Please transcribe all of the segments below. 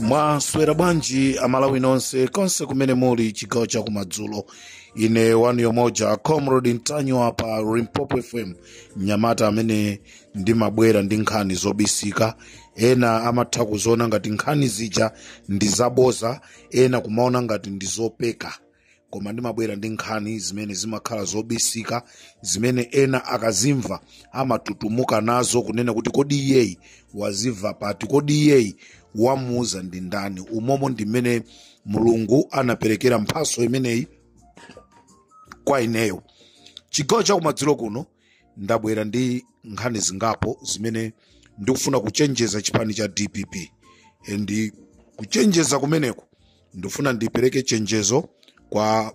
mwaswera bwanji amalawi nonse konse kumene muli chigawo cha kumadzulo ine wanu yomoja comrade ntanyiwa pa limpopo fm mnyamata amene ndimabwera ndi nkhani zobisika ena amatha kuziona ngati nkhani zija ndi zaboza ena kumaona ngati ndi zopeka koma ndimabwera ndi nkhani zimene zimakhala zobisika zimene ena akazimva amatutumuka nazo kunena kuti kodi iyeyi wazimva pati kodi iyeyi wamuuza ndi ndani umomo ndi mmene mulungu anaperekera mphaso imeneyi kwa ineyo chigawo chakumadzulo kuno ndabwera ndi nkhani zingapo zimene ndikufuna kuchenjeza chipani cha dpp ndi kuchenjeza kumeneku ndifuna ndipereke chenjezo kwa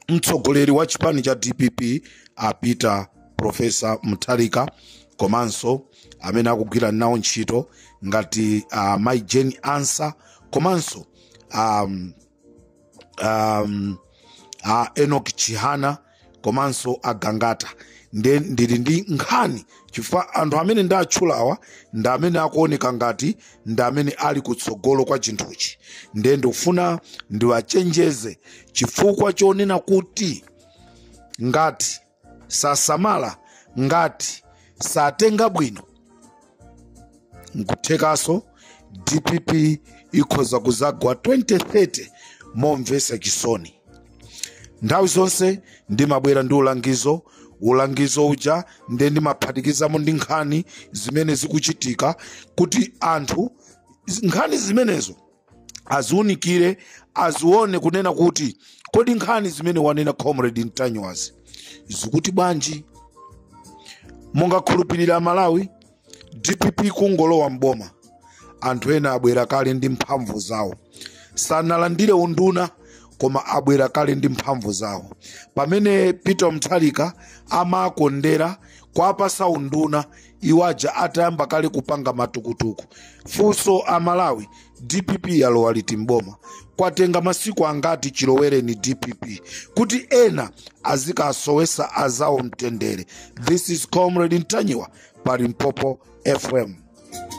mtsogoleri wa chipani cha dpp a peter profesa mutharika komanso amene akugwira nawo ntchito ngati uh, mai jane ansa komanso um, um, uh, enoch chihana komanso a gangata nde ndili ndi nkhani chifukwa anthu amene ndatchulawa ndi amene akuoneka ngati ndi amene ali kutsogolo kwa chinthuchi nde ndikufuna ndiwachenjeze chifukwa chonena kuti ngati sasamala ngati satenga bwino nkuthekaso dpp ikhoza kuzagwa 2030 momvesa chisoni nthawi zonse ndimabwera ndi ulangizo ulangizo uja nde ndimaphatikizamo ndi nkhani zimene zikuchitika kuti anthu nkhani zimenezo aziunikire azione kunena kuti kodi nkhani zimene wanena comrade ntanyiwazi zikuti bwanji mungakhulupirire amalawi dpp kungolowa mboma anthu ena abwera kale ndi mphamvu zawo sanalandire unduna koma abwera kale ndi mphamvu zawo pamene peter mutharika amakondera kwapasa unduna iwo aja atayamba kale kupanga matukutuku funso amalawi dpp yalowa liti mboma kwatenga masiku angati chilowereni dpp kuti ena azikasowesa azawo mtendere this is comrade ntanyiwa pa limpopo fm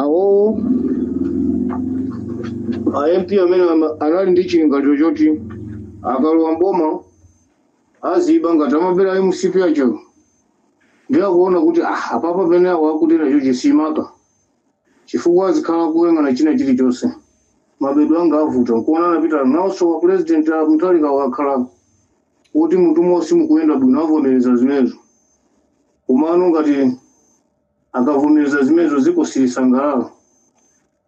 awowo a mp amene ama- anali ndi chilingaliro choti akalowa m'boma aziba ngati amabera mcp acho ndiye akuona kuti ah, apapa pene awo akuti nacho chosamaka chifukwa azikhala kuyang'ana china chilichonse mabedo anga avuta nkuona anapita nawonso wa president a muthalika akhala kuti mutumo simukuyenda bwino avomereza zimenezo komano ngati akavomereza zimenezo ziko silisangalala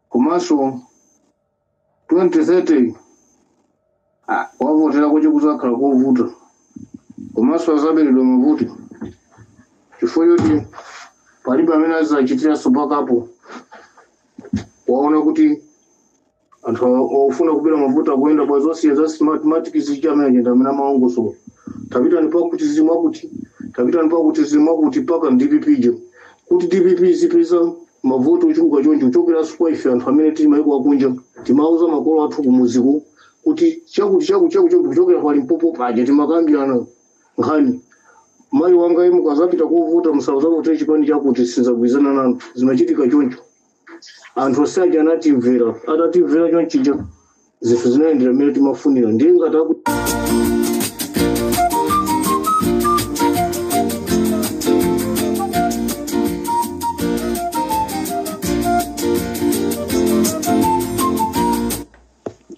komanso 2030 ah, wavotera kuti kuzakhala kovuta komanso azaberedwa mavoti chifukwa choti palibe amene azachitiranso bakapu waona kuti anthu ofuna kubera mavoti akuyenda pa zonse za smart matic zija amene aja amene amalongosola tapitani pakuti zimwa kuti tapitani pakuti zimwa kuti paka dpp je kuti dpp izipeza mavoti ochuluka choncho kuchokeranso kwa ife anthu amene tili maiko akunja timauza makolo athu kumuziko kuti chakuti chakuti chakuti chakuti kuchokera kwa limpopo paja timakambirana nkhani mayi wanga inu mukazapita kovota muzauze kuti chipani chakuti sizagwirizana nanu zimachitika choncho anthu onse aja anatimvera atatimvera chonchija zinthu zinayendera mmene timafunira ndiye ngati aku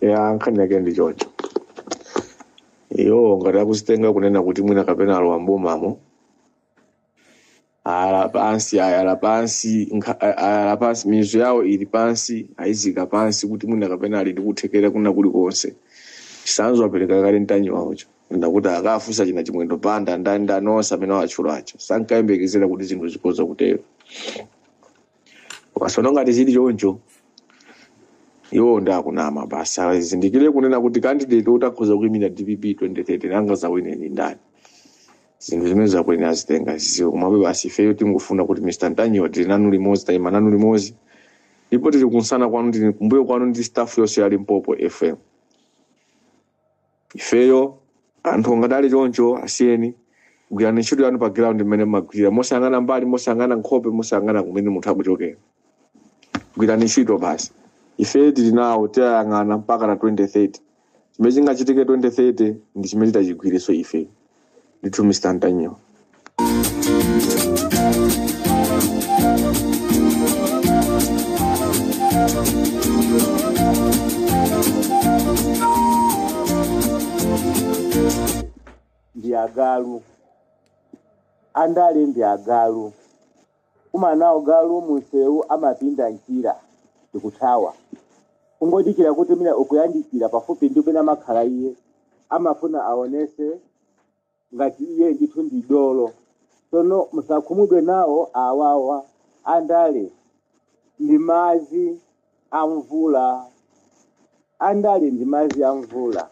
ya nkhani yake ndi choncho iyo ngati akuzitenga kunena kuti mwina kapena alowa m'bomamo ayala pansi ayala pansi nkha- a- ayala pansi mizu yawo ili pansi ayizika pansi kuti mwina kapena ali ndi kuthekera kwina kulikonse chisanzo apereka kale a ntanyiwawo chonena kuti akafunse achina chimwendo banda ndani ndani onse amene awatchula ajawo sankayembekezera kuti zinthu zikhoza kutero tsono ngati chili choncho iwo nde akunama basi azindikire kunena kuti candidate woti akhoza kuimira dpp 2030 nanga azawine ndi ndani zinthu zimene akuyenera azitenge aziziwe komabe basi ifeyo tingofuna kuti mr ntanyiwa tili nanu limodzi tayima nanu limodzi ndipo tili kunsana kwanu tili kumbuyo kwanu ndi staff yonse ya limpopo fm ifeyo anthu nkadali choncho asiyeni gwirani ntchito yanu pa ground imene mmagwirira mosayang'ana mbali mosayang'ana nkhope mosayang'ana kumene munthu akuchokera gwirani ntchito basi ife tili nawo tiyayang'ana mpakana 2030 chimene chingachitike 2030 ndi chimene titachigwirenso ife ndithu mr ntanyiwa ndi agalu andale ndi agalu kukumana nawo galu munsewu amapinda mchira ndikuthawa kungodikira kuti mwina ukuyandikira pafupi ndi pamene amakhala iye amafuna aonese ngati iye ndithu ndi dolo tsono musakhumudwe nawo awawa andale ndi madzi a mvula andale ndi madzi a mvula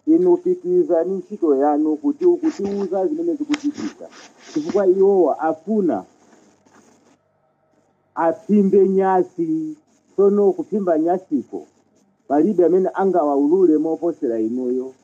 inu pitirizani ntchito yanu kuti mukutiuza zimene zikuchitika chifukwa iwowa afuna aphimbe nyasi tsono kuphimba nyasiko palibe amene angawaulule moposera inuyo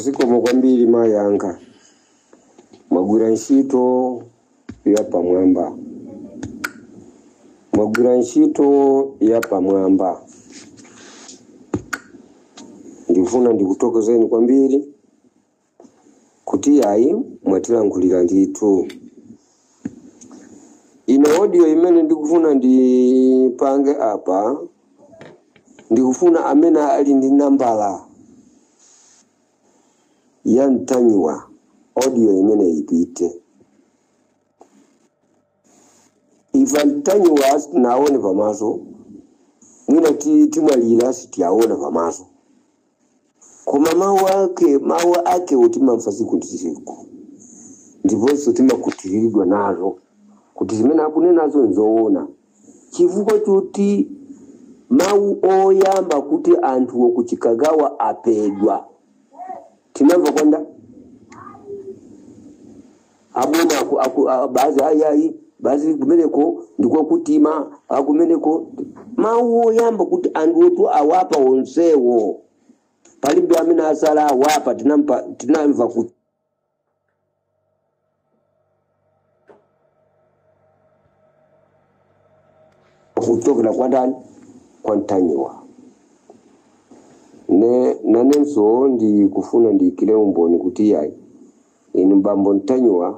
zikomo kwambiri mayi anga mwagwira ntchito yapamwamba mwagwira ntchito yapamwamba ndifuna ndikuthokozeni kwambiri kuti ayi mwatilankhulira ndithu ine audio imene ndikufuna ndipange apa ndikufuna amene ali ndi nambala ya Ntanyiwa audio imeneyi ipite ife a Ntanyiwa sitinaone pamaso mwina ti- timwalira sitinaone pamaso koma mawu ake mawu ake timamva tsiku ndi tsiku ndiponso timakhutitsidwa nazo kuti zimene akunenazo nzoona Chifukwa choti mawu oyamba kuti anthu a ku Chikangawa aphedwa tinamva kwa nda aboma aku- aku- a- basi ayayi basi kumeneko ndiko kuti ma akumeneko mawu oyamba kuti anthuwotu awapha onsewo palibe amene watsala awapha tinampa- tinamva kuti kuchokera kwa ndani kwa Ntanyiwa nde nanenso ndikufuna ndiyikire umboni kuti yayi inu bambo Ntanyiwa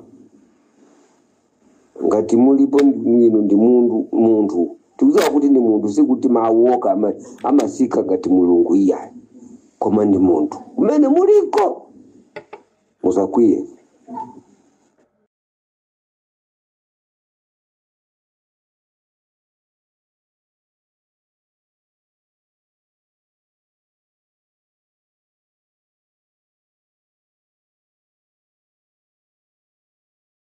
ngati mulipo ndi- inu ndi mundu munthu tikudziwa kuti ndi munthu sikuti mawu okha ama- amatsika ngati mulungu iyayi koma ndi munthu kumene muliko musakwiye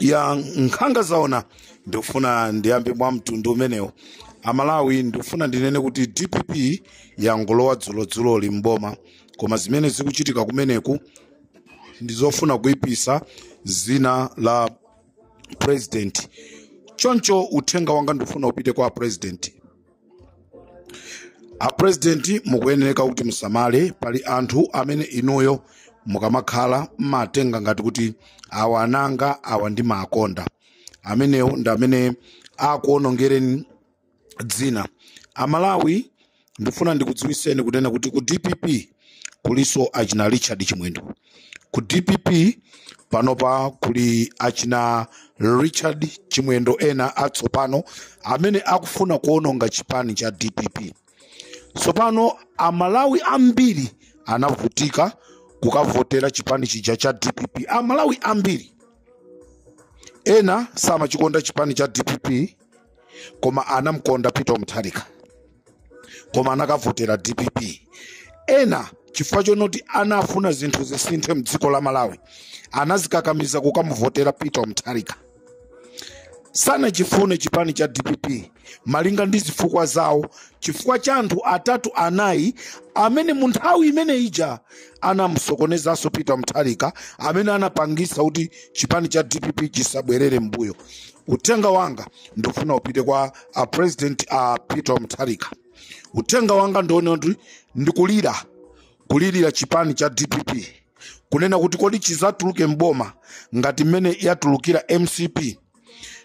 ya nkhanga zaona ndikufuna ndiyambe mwa mtundu umenewo amalawi ndikufuna ndinene kuti dpp yangolowa dzulodzuloli mboma koma zimene zikuchitika kumeneku ndizofuna kuipisa zina la president choncho uthenga wanga ndikufuna upite kwa president apurezidenti mukuyenereka kuti musamale pali anthu amene inuyo mukamakhala mmatenga ngati kuti awa ananga awa ndimawakonda amenewo ndi amene akuonongereni dzina amalawi ndifuna ndikudziwiseni kunena kuti ku dpp kulinso achina richard chimwendo ku dpp panopa kuli achina richard chimwendo ena atsopano amene akufuna kuononga chipani cha dpp tsopano amalawi ambiri anavutika kukavotera chipani chija cha dpp amalawi ambiri ena samachikonda chipani cha dpp koma anamkonda peter mutharika koma anakavotera dpp ena chifukwa chonoti anafuna zinthu zisinthe mdziko la malawi anazikakamiza kukamuvotera peter mutharika sanachifune chipani cha dpp malinga ndi zifukwa zawo chifukwa cha anthu atatu anayi amene mu nthawi imene ija anamusokonezanso peter mutharika amene anapangisa kuti chipani cha dpp chisabwerere mbuyo uthenga wanga ndikufuna upite kwa a president a peter mutharika uthenga wanga ndiwonena kuti ndikulira kulirira chipani cha dpp kunena kuti kodi chizatuluke mboma ngati mmene yatulukira mcp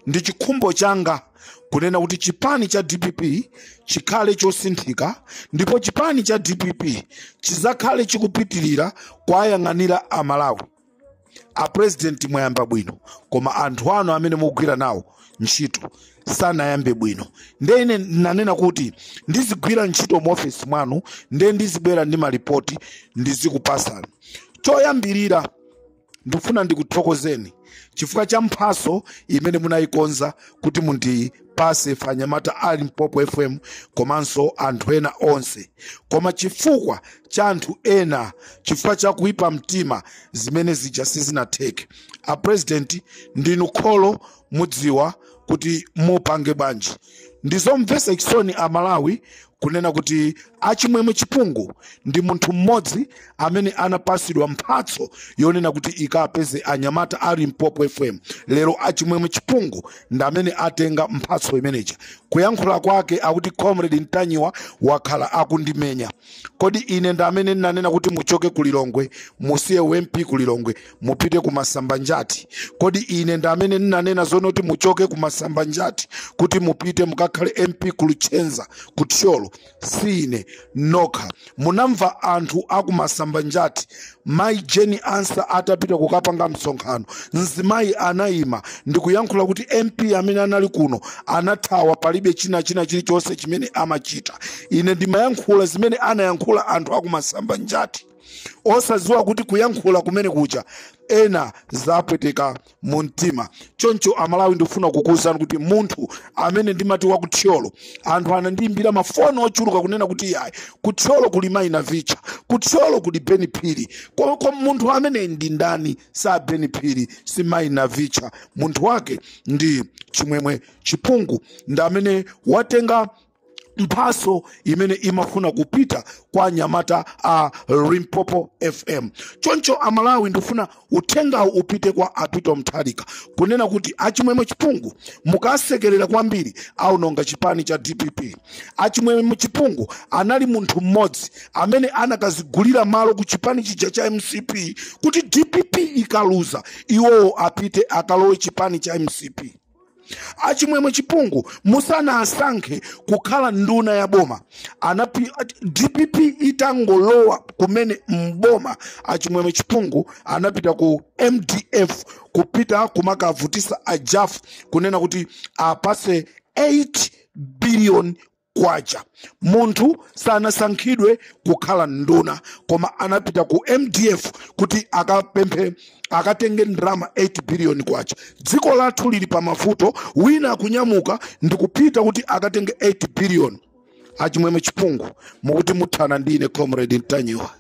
ndi chikhumbo changa kunena kuti chipani cha dpp chikhale chosinthika ndipo chipani cha dpp chizakhale chikupitirira kwayang'anira amalawi apurezidenti mwayamba bwino koma anthu anu amene mukugwira nawo ntchito sanayambe bwino nde ine nanena kuti ndizigwira ntchito mu ofesi mwanu nde ndizibwera ndi malipoti ndizikupasani choyambirira ndifuna ndikuthokozeni chifukwa cha mphaso imene munayikonza kuti mundi pase ife anyamata a limpopo fm komanso anthu ena onse koma chifukwa cha anthu ena chifukwa cha kuipa mtima zimene zija sizinatheke a president ndinu kholo mudziwa kuti mupange bwanji ndizomvesa chisoni a malawi kunena kuti achimwemwe chipungu ndi munthu mmodzi amene anapasidwa mphatso yonena kuti ikapeze anyamata a limpopo fm lero achimwemwe chipungu ndi amene atenga mphatso imeneja kuyankhula kwake akuti comrade ntanyiwa wakhala akundimenya kodi ine ndi amene ndinanena kuti muchoke ku lilongwe musiye u mp ku lilongwe mupite ku masambanjati kodi ine ndi amene ndinanena zonoti muchoke ku masambanjati kuti mupite mukakhale mp ku luchenza ku thyolo si ine nokha munamva anthu aku masambanjati mayi jane ansah atapita kukapanga msonkhano mzimayi anayima ndikuyankhula kuti mp amene anali kuno anathawa palibe china china chilichonse chimene amachita ine ndimayankhula zimene anayankhula anthu aku masambanjati osadziwa kuti kuyankhula kumene kuja ena zapweteka mu mtima choncho amalawi ndikufuna kukuwuzani kuti munthu amene ndimati wa kuthyolo anthu anandiyimbira mafoni ochuluka kunena kuti yayi kuthyolo kuli mayi navicha kuthyolo kuli ben phiri Ko- ko munthu ameneyo ndi ndani si a ben phiri si mayi navicha munthu wake ndi chimwemwe chipungu ndi amene watenga mphatso imene imafuna kupita kwa anyamata a limpopo fm choncho amalawi ndifuna uthengawu upite kwa a peter mutharika kunena kuti achimwemwe chipungu mukawasekerera kwambiri aononga chipani cha dpp achimwemwe chipungu anali munthu mmodzi amene anakadzigulira malo ku chipani chija cha mcp kuti dpp ikaluza iwowo apite akalowe chipani cha mcp achimwemwe chipungu musanawasankhe kukhala nduna ya boma anapi dpp itangolowa kumene mboma achimwemwe chipungu anapita ku mdf kupita kumakavutisa ajafu kunena kuti awapatse 8 billion kwacha munthu sanasankhidwe kukhala nduna koma anapita ku mdf kuti akapemphe akatenge ndalama 8 billion kwacha dziko lathu lili pa mavuto wina akunyamuka ndikupita kuti akatenge 8 billion achimwemwe chipungu mukuti muthana ndi ine comrade ntanyiwa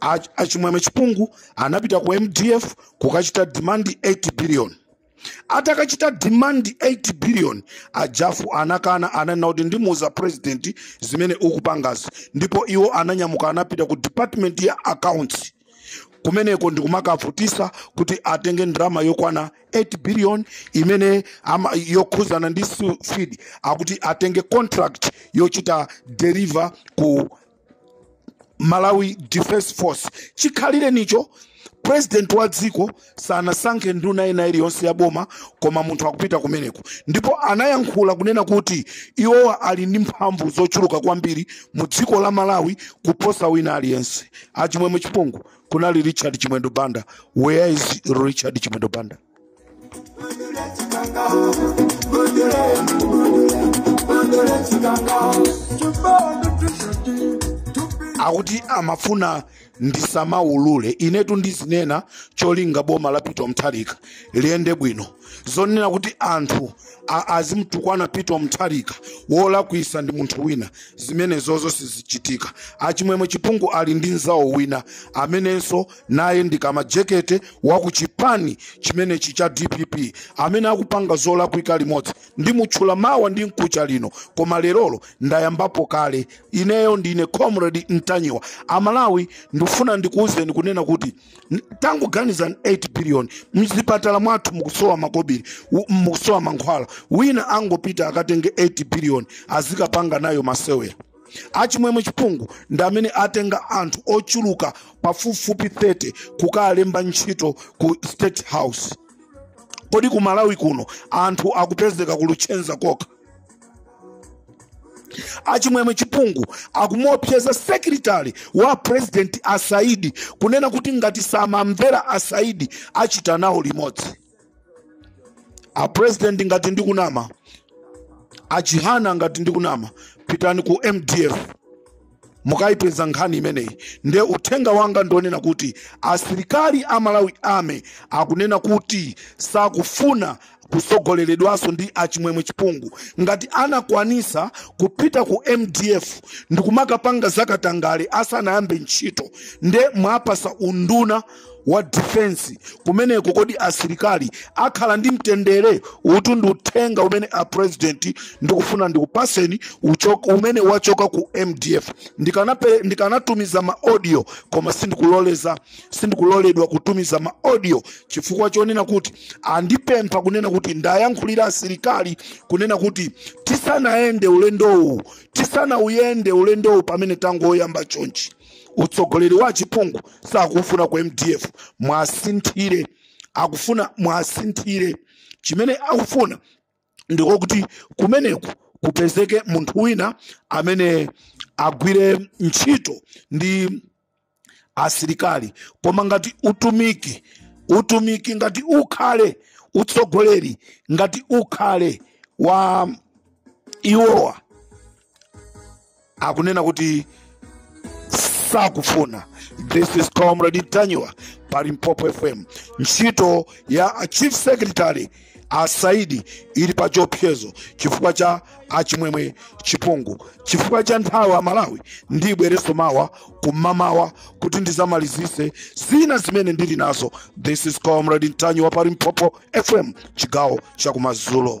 a, a chimwemwe chipungu anapita ku mdf kukachita demand 8 billion atakachita demand 8 billion ajafu anakana ananena kuti ndimuuza president zimene ukupangazi ndipo iwo ananyamuka anapita ku department ya accounts kumeneko ndikumakavutisa kuti atenge ndalama yokwana 8 billion imene ama, yokhuzana ndi su- feed akuti atenge contract yochita deliver ku malawi defense force chikhalirecho president wa dziko sanasankhe nduna ina iliyonse ya boma koma munthu akupita kumeneko ndipo anayankhula kunena kuti iwo ali ndi mphamvu zochuluka kwambiri mu dziko la malawi kuposa wina aliyense achimwemwe chipungu kunali richard chimwendo banda where is richard chimwendo banda akuti amafuna ndisamaulule inetu ndizinena cholinga boma la peter mutharika liyende bwino zonena kuti anthu a- azimtukwana peter mutharika wolakwisa ndi munthu wina zimenezozo sizichitika achimwemwe chipungu ali ndi mzawo wina amenenso naye ndi Kamajekete wa ku chipani chimenechi cha dpp amene akupanga zolakwika limodzi ndimutchula mawa ndi mkucha lino koma lerolo ndayambapo kale ineyo ndine comrade ntanyiwa amalawi ndifuna ndikuwuzeni kunena kuti n- tangoganizani 8 billion mzipatala mwathu mukusowa makobiri u- mukusowa mankhwala wina angopita akatenge 8 billion azikapanga nayo masewera achimwemwe chipungu ndi amene atenga anthu ochuluka pafupifupi 30 kukalemba ntchito ku state house kodi ku malawi kuno anthu akupezeka ku luchenza kokha achimwemwe chipungu akumuopseza sekretari wa president asaidi kunena kuti ngati samamvera asaidi achita nawo limodzi a president ngati ndikunama a chihana ngati ndikunama pitani ku mdf mukayipeza nkhani imeneyi nde uthenga wanga ndi onena kuti asilikali a malawi ame akunena kuti sakufuna kusogoleredwanso ndi achimwemwe chipungu ngati anakwanisa kupita ku mdf ndikumakapanga zakatangale asanayambe ntchito nde mwapasa unduna wa defense kumeneko kodi asilikali akhala ndi mtendere utu ndi uthenga umene a president ndikufuna ndikupaseni uchoka umene wachoka ku mdf Ndikanape- ndikanatumiza ma audio koma sindikuloleza sindikuloledwa kutumiza ma audio chifukwa chonena kuti andipempha kunena kuti ndiayankhulire asilikali kunena kuti tisanayende ulendowu tisanauyende ulendowu pamene tangoyamba chonchi utsogoleri wa achipungu sakuwufuna ku mdf mwasinthire akufuna mwasinthire chimene akufuna ndiko kuti kumeneko kupezeke munthu wina amene agwire ntchito ndi asilikali koma ngati utumiki utumiki ngati ukhale utsogoleri ngati ukhale wa iwowa akunena kuti sakufuna this is comrade ntanyiwa pa limpopo fm ntchito ya chief secretary a saidi ili pa chiopsezo chifukwa cha a chimwemwe chipungu chifukwa cha nthawi amalawi ndibwereso mawa kumamawa kuti ndizamalizise zina zimene ndili nazo this is comrade ntanyiwa pa limpopo fm chigawo chakumadzulo